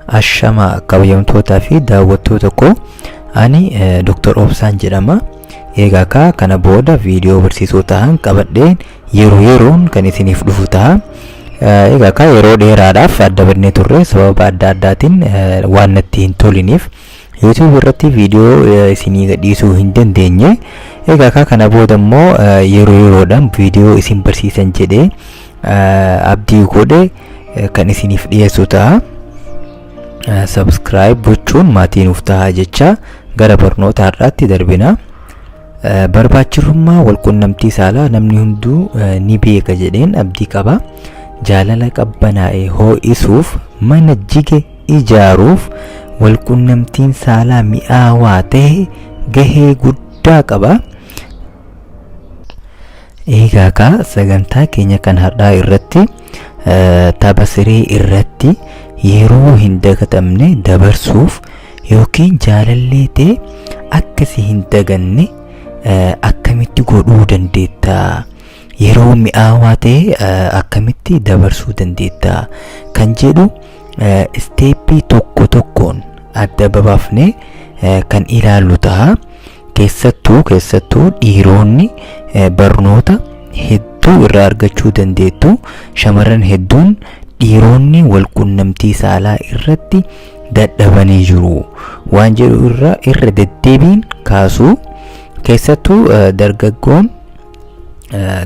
Ashama kabajamtootaa fi daawwattoota koo ani Dr. Obsaan jedhama. Egaa kaa kana booda viidiyoo barsiisoo ta'an qabadheen yeroo yeroon kan isiniif dhufu ta'a. Egaa kaa yeroo dheeraadhaaf adda badnee turre sababa adda addaatiin waan natti hin toliniif YouTube irratti viidiyoo eh, isinii gadhiisuu hin dandeenye egaa kaa kana booda immoo eh, yeroo yeroodhaan viidiyoo isin barsiisan jedhee eh, abdii godhe eh, kan isiniif dhiyeessu ta'a Eh, subscribe gochuun maatii nuuf ta'a jecha gara barnoota har'aatti darbina Eh, barbaachifummaa walqunnamtii saalaa namni hunduu eh, ni beeka jedheen abdii qaba jaalala qabbanaa'e hoo'isuuf mana jige ijaaruuf walqunnamtiin saalaa mi'aawaa ta'e gahee guddaa qaba. Eegaa kaa sagantaa keenya kan har'aa irratti eh, tapha siree irratti yeroo hin dagatamne dabarsuuf yookiin jaalallee ta'e akka si hin daganne eh, akkamitti godhuu dandeetta? Yeroo mi'aawaa ta'e eh, akkamitti dabarsuu dandeetta? Kan jedhu isteeppii tokko tokkoon adda babaafnee kan ilaallu ta'a. Keessattuu keessattuu dhiiroonni barnoota hedduu irraa argachuu dandeettu shamarran hedduun dhiiroonni walqunnamtii saalaa irratti dadhabanii jiru waan jedhu irra irra deddeebiin kaasuu keessattuu dargaggoon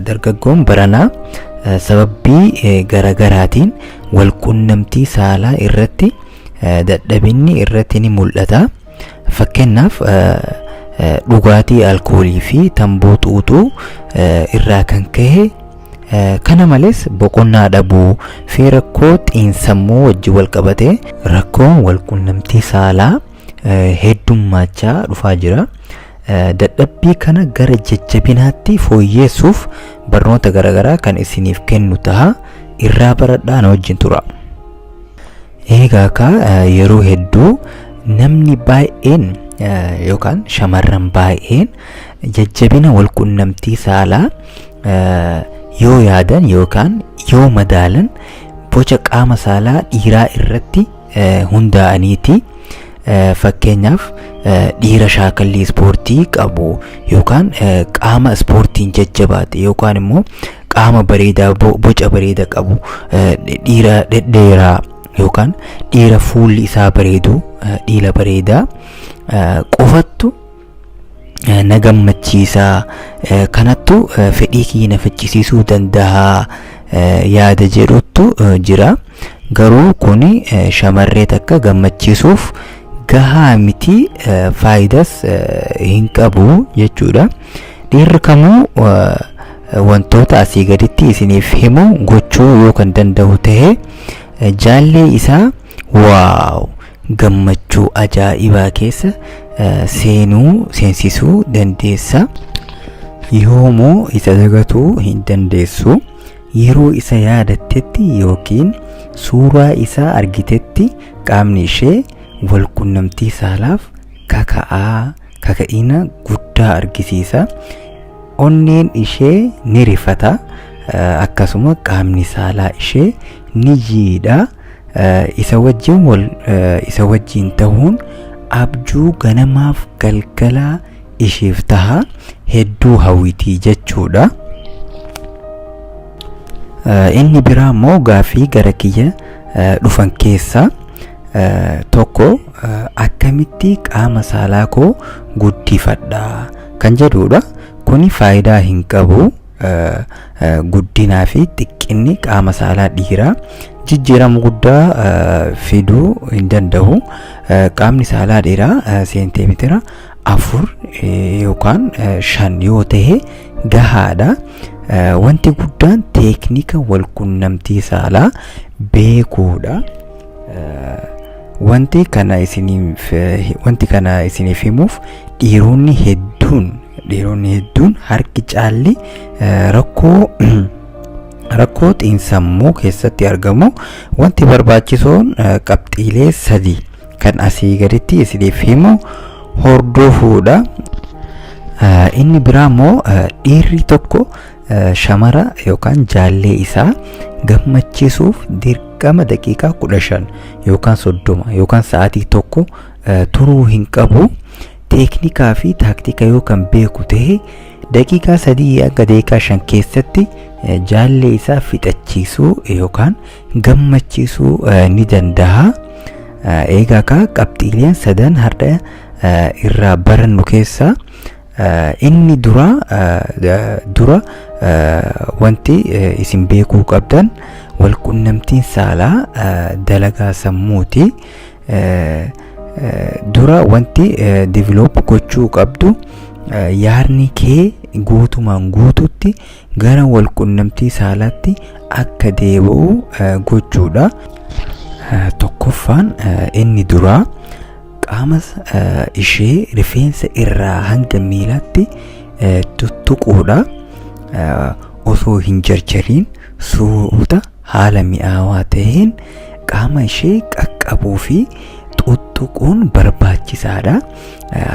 dargaggoon baranaa sababbii garagaraatiin walqunnamtii saalaa irratti dadhabinni irratti ni mul'ata. Fakkeenyaaf dhugaatii alkoolii fi tamboo xuuxuu irraa kan ka'e kana malees boqonnaa dhabuu fi rakkoo xiinsammuu wajjin walqabatee rakkoo walqunnamtii saalaa heddummaachaa dhufaa jira. Dadhabbii kana gara jajjabinaatti fooyyeessuuf barnoota garaagaraa kan isiniif kennu taha irraa baradhaa na wajjin tura. Eegaa kaa yeroo hedduu namni baay'een yookaan shamarran baay'een jajjabina walqunnamtii saalaa yoo yaadan yookaan yoo madaalan boca qaama saalaa dhiiraa irratti hundaa'aniiti. Fakkeenyaaf dhiira shaakallii ispoortii qabu yookaan qaama ispoortiin jajjabaate yookaan immoo qaama bareedaa boca bareeda qabu dhiira dhedheeraa yookaan dhiira fuulli isaa bareedu dhiira bareedaa qofattu na gammachiisa kanattu fedhii kiyya na fichisiisuu danda'a yaada jedhuttu jira garuu kun shamarree takka gammachiisuuf gahaa miti faayidas hin qabu jechuudha dhiirri kamuu wantoota asii gaditti isiniif himu gochuu yoo kan danda'u ta'e jaallee isaa Wow! Gammachuu ajaa'ibaa keessa eh, seenuu seensisuu dandeessa. Yoomuu isa dagatuu hin dandeessu. Yeroo isa yaadattetti yookiin suuraa isaa argitetti qaamni ishee wal qunnamtii saalaaf kaka'aa kaka'ina guddaa argisiisa. Onneen ishee ni rifata eh, akkasuma qaamni saalaa ishee ni jiidha. isa wajjin wal isa wajjin ta'uun abjuu ganamaaf galgalaa ishiif taha hedduu hawwitii jechuudha. Inni biraa immoo gaaffii gara kiyya dhufan keessaa tokko akkamitti qaama saalaa koo guddifadha kan jedhudha. Kuni faayidaa hin qabu. guddinaa fi xiqqinni qaama saalaa dhiiraa jijjiirama guddaa fiduu hin danda'u. Qaamni saalaa dhiiraa seentimeetira afur yookaan shan yoo ta'e gahaadha. Wanti guddaan teeknika walqunnamtii saalaa beekuudha. Wanti kana isiniif wanti kana isiniif himuuf dhiironni hedduun Dhiironni hedduun harki caalli eh, rakkoo rakkoo xiinsammuu keessatti argamu wanti barbaachisoon eh, qabxiilee sadi kan asii gaditti isiniif himu hordofuudha. Eh, Inni biraa immoo eh, dhiirri tokko eh, shamara yookaan jaallee isaa gammachiisuuf dirqama daqiiqaa kudha shan yookaan soddoma yookaan sa'aatii tokko eh, turuu hin qabu. teeknikaa fi taaktika yoo kan beeku ta'e daqiiqaa sadii hanga daqiiqaa shan keessatti jaallee isaa fixachiisuu yookaan gammachiisuu ni danda'a. Eegaa egaa qabxiileen sadan har'a irraa barannu keessaa inni dura dura wanti isin beekuu qabdan walqunnamtiin saalaa dalagaa sammuuti. dura wanti develop gochuu qabdu yaadni kee guutumaan guututti gara walqunnamtii saalaatti akka deebi'u gochuudha. Tokkoffaan inni duraa qaama ishee rifeensa irraa hanga miilaatti tuttuquudha. Osoo hin jarjariin suuta Haala mi'aawaa ta'een qaama ishee qaqqabuu fi xuxxuquun barbaachisaadha.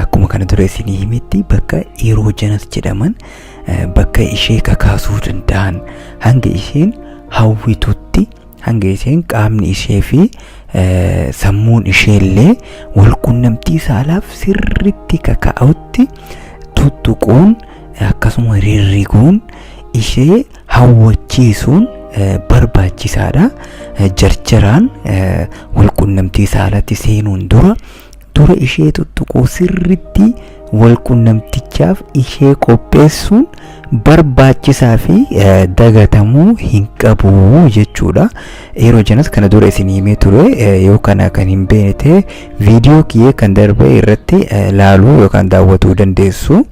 Akkuma kana dura isinii himetti bakka iroojenas jedhaman bakka ishee kakaasuu danda'an hanga isheen hawwitutti hanga isheen qaamni ishee fi sammuun ishee illee wal qunnamtii saalaaf sirriitti kaka'utti tuttuquun akkasuma rirriguun ishee hawwachiisuun barbaachisaadha. Jarjaraan walqunnamtii saalatti seenuun dura dura ishee tuttuquu sirritti walqunnamtichaaf ishee qopheessuun barbaachisaa fi dagatamuu hin qabu jechuudha. Yeroo janas kana dura isin himee ture yoo kana kan hin beekne ta'e viidiyoo kiyyee kan darbe irratti laaluu yookaan daawwatuu dandeessu.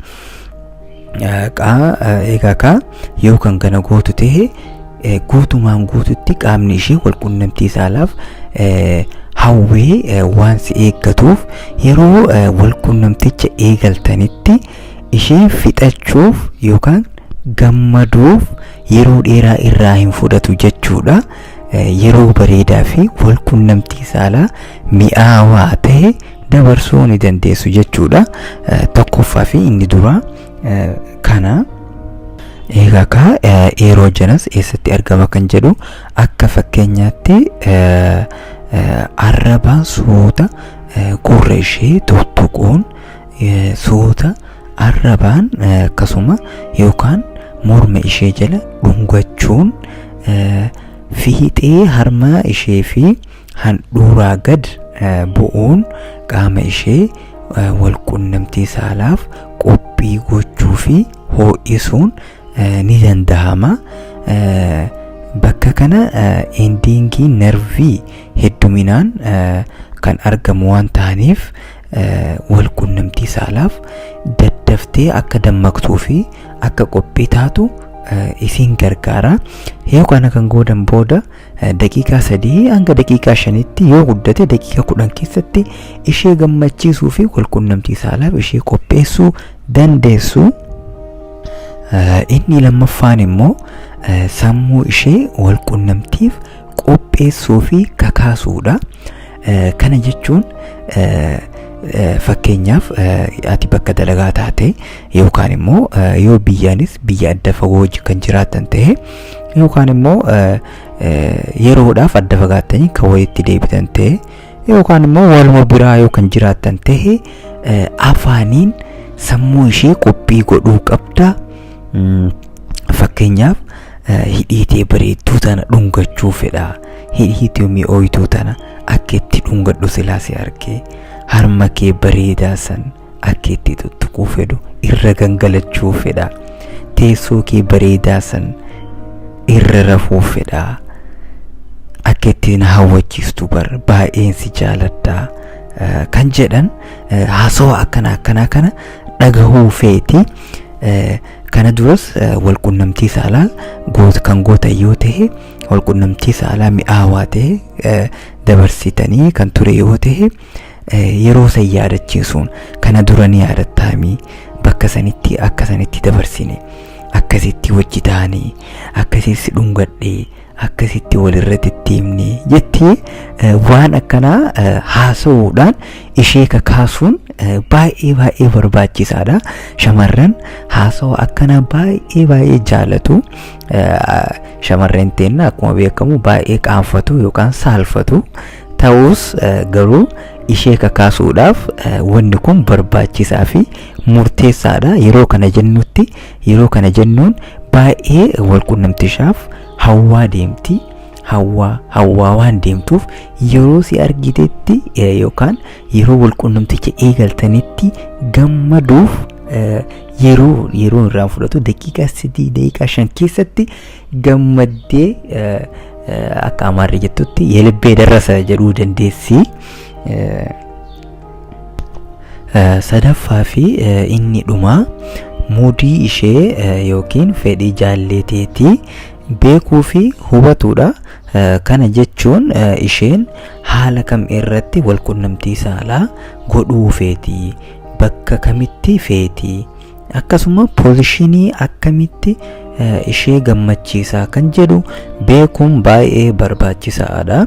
Qaa egaa kaa yoo kan kana gootu ta'e eh, guutumaan guututti qaamni ishee wal qunnamtii saalaaf eh, hawwee eh, waan si eeggatuuf yeroo eh, wal qunnamticha eegaltanitti ishee fixachuuf yookaan gammaduuf yeroo dheeraa irraa hin fudhatu jechuudha. Eh, Yeroo bareedaa fi wal qunnamtii saalaa mi'aawaa ta'e dabarsuu ni dandeessu jechuudha. Tokkoffaa fi inni duraa kana. Egaa kaa yeroo janas eessatti argama kan jedhu akka fakkeenyaatti arraba suuta gurra ishee tuttuquun suuta arrabaan akkasuma yookaan morma ishee jala dhungachuun fiixee harma ishee fi handhuuraa gad bu'uun qaama ishee walqunnamtii saalaaf qophii gochuu fi hoo'isuun ni danda'ama. Bakka kana indiingii narvii hedduminaan kan argamu waan ta'aniif walqunnamtii saalaaf daddaftee akka dammaqtuu fi akka qophii taatu isiin gargaara. Yoo kana kan goodan booda daqiiqaa 3 hanga daqiiqaa 5tti yoo guddate daqiiqaa 10 keessatti ishee gammachiisuu fi walqunnamtii saalaaf ishee qopheessuu dandeessu. Inni lammaffaan immoo sammuu ishee walqunnamtiif qopheessuu fi kakaasuudha. Kana jechuun fakkeenyaaf ati bakka dalagaa taate yookaan immoo yoo biyyaanis biyya adda fagoo wajjin kan jiraatan ta'e yookaan immoo yeroodhaaf adda fagaattanii kan walitti deebitan ta'e yookaan immoo waluma biraa yoo kan jiraatan ta'e afaaniin sammuu ishee qophii godhuu qabda. Fakkeenyaaf hidhiitee bareedduu tana dhungachuu fedha. Hidhiitee mi'ooytuu tana akka itti dhungadhu silaa si argee harma kee bareedaa san akka itti tuttuquu fedhu irra gangalachuu fedha. Teessoo kee bareedaa san irra rafuu fedha. Akka itti na hawwachiistu bar baay'een si jaaladha kan jedhan haasawaa akkana akkanaa kana dhagahuu feeti. Eh, Kana duras eh, walqunnamtii saalaa goota kan gootan yoo ta'e walqunnamtii saalaa mi'aawaa ta'e eh, dabarsitanii kan ture yoo ta'e eh, yeroo san yaadachiisuun kana dura ni yaadattaami bakka sanitti akka sanitti dabarsine akkasitti wajji taane akkasitti dhungadhe akkasitti walirra deddeemne jettee waan akkanaa haasa'uudhaan ishee kakaasuun baay'ee baay'ee barbaachisaadha. Shamarran haasawa akkanaa baay'ee baay'ee jaalatu. Shamarreen teenna akkuma beekamu baay'ee qaanfatu yookaan saalfatu. Ta'us garuu ishee kakaasuudhaaf wanni kun barbaachisaa fi murteessaadha. Yeroo kana jennutti Yeroo kana jennuun baay'ee walqunnamtishaaf hawwaa deemti. Hawwaa hawwaa waan deemtuuf yeroo si argitetti eh, yookaan yeroo walqunnamticha eegaltanitti gammaduuf eh, yeroo yeroo irraa fudhatu daqiiqaa sadii daqiiqaa shan keessatti gammaddee eh, eh, akka amaarri jettutti yelibbee darrasa jedhuu dandeessi. Eh, sadaffaa fi inni dhumaa muudii ishee yookiin fedhii jaalleeteetii beekuu fi hubatuudha. Kana jechuun isheen haala kam irratti wal qunnamtii saalaa godhuu feeti bakka kamitti feeti akkasuma poozishinii akkamitti ishee gammachiisaa kan jedhu beekuun baay'ee barbaachisaadha.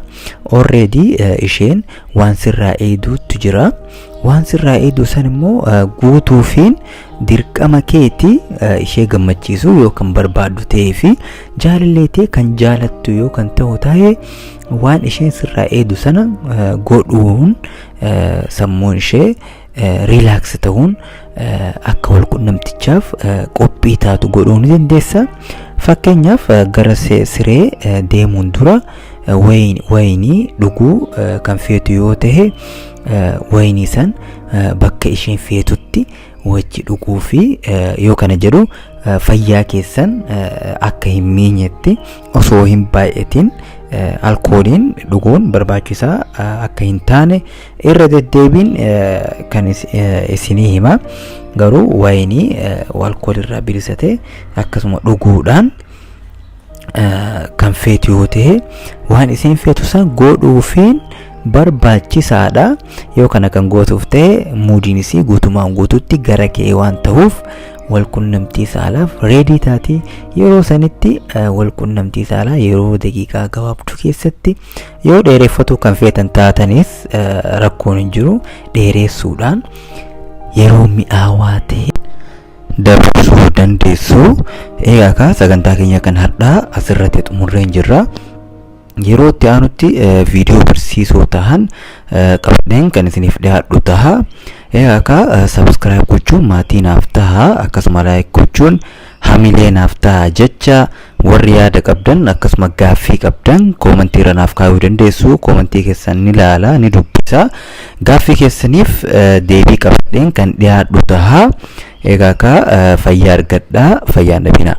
Already isheen waan sirraa eeyduuttu jira. Waan sirraa eeydu san immoo guutuufiin dirqama keeti ishee gammachiisuu yoo kan barbaaddu ta'ee fi jaalallee ta'e kan jaalattu yoo kan ta'u ta'e waan isheen sirraa eeydu sana godhuun sammuun ishee riilaaks ta'uun akka walqunnamtichaaf qophii taatu godhuu ni dandeessa. Fakkeenyaaf gara siree deemuun dura wayinii dhuguu kan feetu yoo ta'e wayinii san bakka isheen feetutti wajji dhuguu fi yoo kana jedhu fayyaa keessan akka hin miinyetti osoo hin baay'atin alkooliin dhuguun barbaachisaa akka hin taane irra deddeebiin kan isinii hima garuu wayinii alkoolirraa bilisa ta'e akkasuma dhuguudhaan kan feetu yoo ta'e waan isin feetu san godhuufiin barbaachisaadha yoo kana kan gootuuf ta'e muudiin isii guutumaan guututti gara kee waan ta'uuf walqunnamtii saalaaf reedii taati yeroo sanitti walqunnamtii saalaa yeroo daqiiqaa gabaabduu keessatti Yoo dheereffatuu kan feetan taatanis rakkoon hin jiru dheeressuudhaan yeroo mi'aawaa ta'e dabarsuu dandeessu. Egaa kaa sagantaa keenya kan har'aa asirratti xumurreen jirra. Yeroo itti aanutti viidiyoo barsiisoo tahan qabadheen kan isiniif dhiyaadhu taha. Egaa kaa sabiskiraayib gochuun maatii naaf taha akkasuma laayik gochuun Hamilee naaf ta'a jecha warri yaada qabdan akkasuma gaaffii qabdan koomantii irra naaf kaayuu dandeessu koomantii keessan ni laala ni dubbisa gaaffii keessaniif deebii qabadheen kan dhiyaadhu taha egaa ka fayyaa argadha fayyaan dhabinaa.